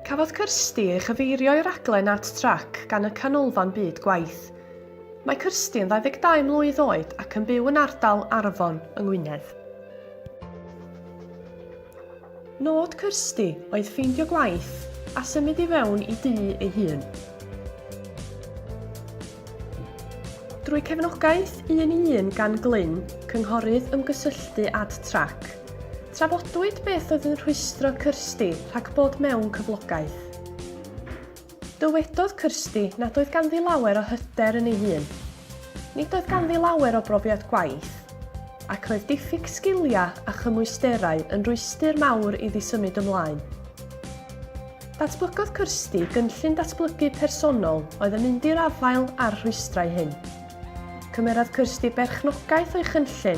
Cafodd Kirsty ei chyfeirio i raglen Art Track gan y Canolfan Byd Gwaith. Mae Kirsty yn 22 mlwydd oed ac yn byw yn ardal Arfon yng Ngwynedd. Nod Kirsty oedd ffeindio gwaith a symud i fewn i du ei hun. Drwy cefnogaeth un i un gan Glyn, cynghorydd ymgysylltu Ad Track, Trafodwyd beth oedd yn rhwystro Kirsty rhag bod mewn cyflogaeth. Dywedodd Kirsty nad oedd ganddi lawer o hyder yn ei hun. Nid oedd ganddi lawer o brofiad gwaith, ac roedd diffyg sgiliau a chymwysterau yn rwystr mawr iddi symud ymlaen. Datblygodd Kirsty gynllun datblygu personol oedd yn mynd i'r afael â'r rhwystrau hyn. Cymerodd Kirsty berchnogaeth o'i chynllun,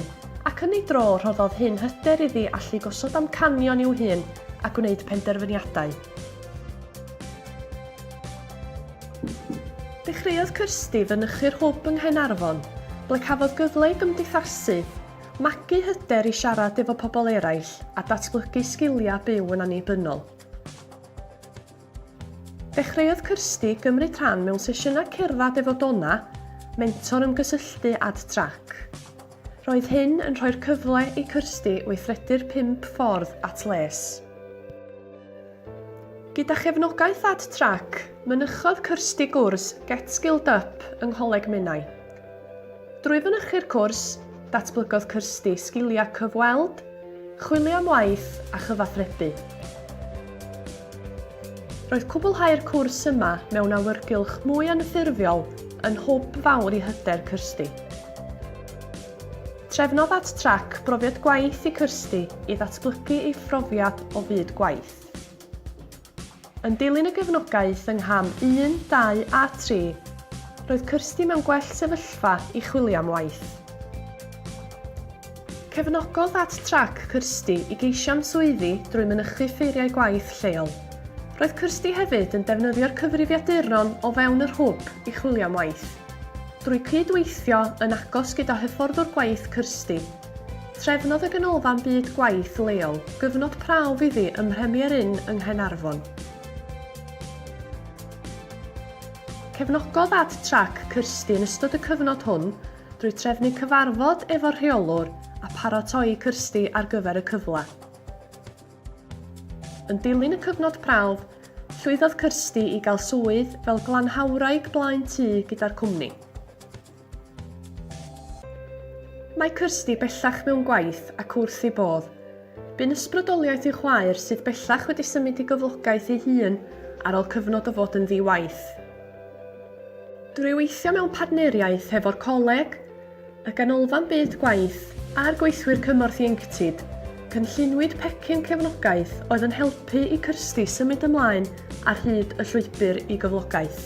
ac yn ei dro rhoddodd hyn hyder iddi allu gosod amcanion i'w hun a gwneud penderfyniadau. Dechreuodd Kirsty fynychu'r Hwb yng Nghaernarfon, ble cafodd gyfle i gymdeithasu, magu hyder i siarad efo pobl eraill a datblygu sgiliau byw yn annibynnol. Dechreuodd Kirsty gymryd rhan mewn sesiynau cerdded efo Donna, mentor ymgysylltu AdTrac. Roedd hyn yn rhoi'r cyfle i Kirsty weithredu'r pump ffordd at les. Gyda chefnogaeth AdTrac, mynychodd Kirsty gwrs Get Skilled Up yng Ngholeg Menai. Drwy fynychu'r cwrs, datblygodd Kirsty sgiliau cyfweld, chwilio am waith a chyfathrebu. Roedd cwblhau'r cwrs yma mewn awyrgylch mwy anffurfiol yn hwb fawr i hyder Kirsty. Trefnodd at trac brofiad gwaith i Kirsty i ddatblygu ei phrofiad o fyd gwaith. Yn dilyn y gefnogaeth yng ngham un, dau a tri, roedd Kirsty mewn gwell sefyllfa i chwilio am waith. Cefnogodd At Track Kirsty i geisio am swyddi drwy mynychu ffeiriau gwaith lleol. Roedd Kirsty hefyd yn defnyddio'r cyfrifiaduron o fewn yr hwb i chwilio am waith. Drwy cyd-weithio yn agos gyda hyfforddwr gwaith Kirsty, Trefnodd y Ganolfan Byd Gwaith leol gyfnod prawf iddi ym Mhremier Inn yng Nghaernarfon. Cefnogodd Ad Trac Kirsty yn ystod y cyfnod hwn drwy trefnu cyfarfod efo'r rheolwr a pharatoi Kirsty ar gyfer y cyfle. Yn dilyn y cyfnod prawf, llwyddodd Kirsty i gael swydd fel glanhawwraig blaen tŷ gyda'r cwmni. Mae Kirsty bellach mewn gwaith ac wrth ei bodd. Bu'n ysbrydoliaeth i'w chwaer sydd bellach wedi symud i gyflogaeth ei hun ar ôl cyfnod o fod yn ddi-waith. Drwy weithio mewn partneriaeth hefo'r Coleg, y Ganolfan Byd Gwaith a'r Gweithwyr Cymorth Ieuenctid, cynlluniwyd pecyn cefnogaeth oedd yn helpu i Kirsty symud ymlaen ar hyd y llwybr i gyflogaeth.